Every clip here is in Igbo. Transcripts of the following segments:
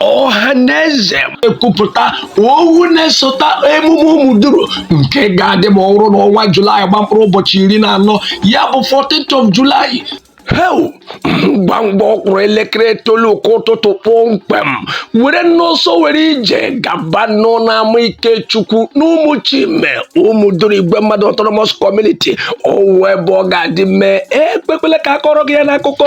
ọha na eze ekwupụta owu na-esota emume ụmụduru nke ga-adị ma ọ wụrụ n'ọnwa julaị gba mkpụrụ ụbọchị iri na anọ ya bụ 14th of July heu ngwa ngwa ọ kụrụ elekere itoolu nke ụtụtụ kpọmkwem werenụ ọsọ were ije gabanụ n'ama ikechukwu n'ụmụ chime ụmụ duru igwe mmadụ autonomous community ọ wụ ebe ọ ga-adị mee ekwekwele ka a kọrọ gị ya n'akụkọ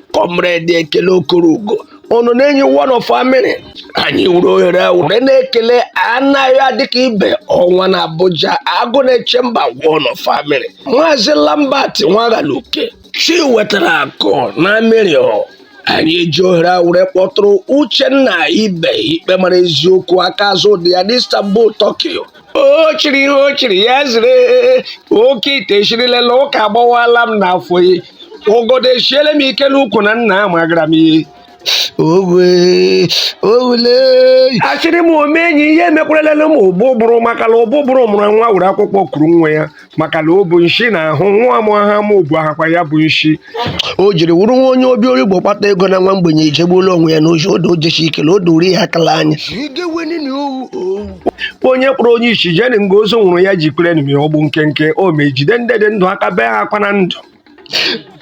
kọmrade ekele okorougo ọnọ n'enyi one of amịrị anyị were ohere a were na-ekele anaghị adịka ibe ọnwa na abuja agụ na-eche mba one of amịrị maazị lambert nwaghaluke chi wetara akụ na amịrị anyị eji ohere a were kpọtụrụ uchenna ibe ikpe mara eziokwu aka azụ dị ya n'istanbul turkey o o chiri ihe o chiri ya zere oke ite eshirilela ọka agbawala m n'afọ ya ọgọdọ eshiele m ike n'ukwu na nna amagara m ihe ogwe owule asịrị m omenyi ihe emekwaralele m ụbụbụrụ maka na ụbụbụrụ mụrụ nwa were akwụkwọ kuru nwa ya maka na o bụ nshi na ahụ nwa amụ ha ma obu ahakwa ya bụ nshi o jiri wụrụ nwa onye obi origbo kpata ego na nwa mgbenye ejegbuola onwe ya n'ohi odo ojechi ike na o doro ihe akala anya onye kpọrọ onye isi jeni nga ozu nwụrụ ya ji kwere nmi ọgbụ nkenke o ma ejide ndị dị ndụ aka bee ha akwa na ndụ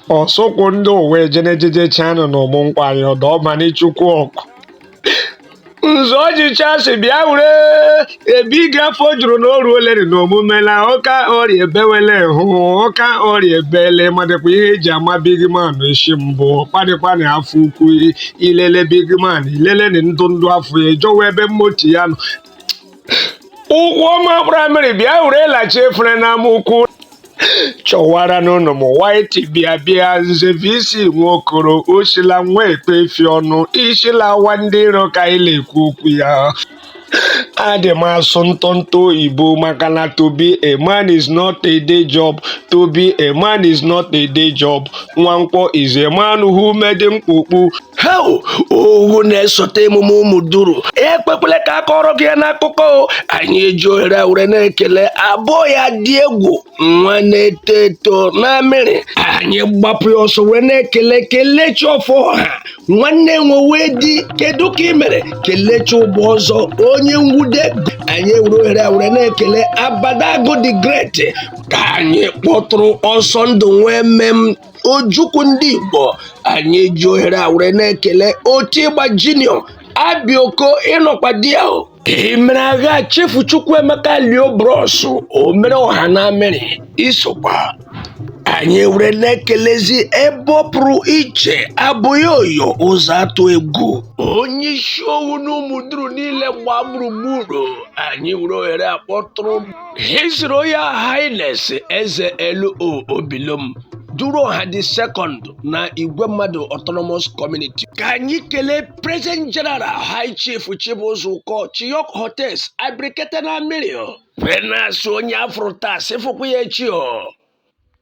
ọsụkwụ ndị ụwa ejenejejechanụ na ụmụ nwanyị ọdọ ọmanichukwu ọkụ nzọ ọjịcha si bịa were ebe ige afọ juru na oru oleri na omume na ụka ọrịa ebewele hụ ụka ọrịa ebele madịkwa ihe eji ama bigman isi mbụ kpadịkwana afọ ukwu ilele bigman ilele na ndụ ndụ afọ ya ejowa ebe mmoti ya nọ ụgwọ ọma praịmarị bịa were lachi efere n'ama ukwu chọwara n'ụlọ m waiti bịa bịa nze vc nwokoro osila nwa ekpe efi ọnụ isilawa ndị iro ka anyị na-ekwu okwu ya adị m asụ ntọntọ oyibo maka na to be a man is not a day job to be a man is not a day job nwankwọ is a man who made mkpukpu heu owu na-esota emume ụmụ duru ekwekwele ka a kọrọ gị ya n'akụkọ o. anyị eji ohere a were na-ekele abụọ ya dị egwu nwa na-eto eto n'amịrị anyị gbapụ ya ọsọ wee na-ekele kelechi ọfọha nwanne nwewe di kedu ka ị mere kelechi ụgbọ ọzọ onye nwude anyị ewere ohere a were na-ekele abada agụ the great ka anyị kpọtụrụ ọsọ ndụ nwee mmem ojukwu ndị igbo anyị ji ohere a were na-ekele oti ịgba junior abioko ịnọkwa di ya o emere agha chefu chukwuemeka lio bros o mere ọha na amiri i sokwa anyị were na-ekelezi ebe ọ pụrụ iche abụghị oyo ụzọ atụ egwu onye isi owu na ụmụ duru niile gbaa gburugburu anyị were ohere a kpọtụrụ His Royal Highness Eze LO Obilom Duruọha the second na Igwemmadụ autonomous community ka anyị kelee President General High Chief Chibuzor Uko Chiyok Hotels Abrikete na Amiri o. Wee na-asị onye a fụrụ taa sị fụkwa ya echi o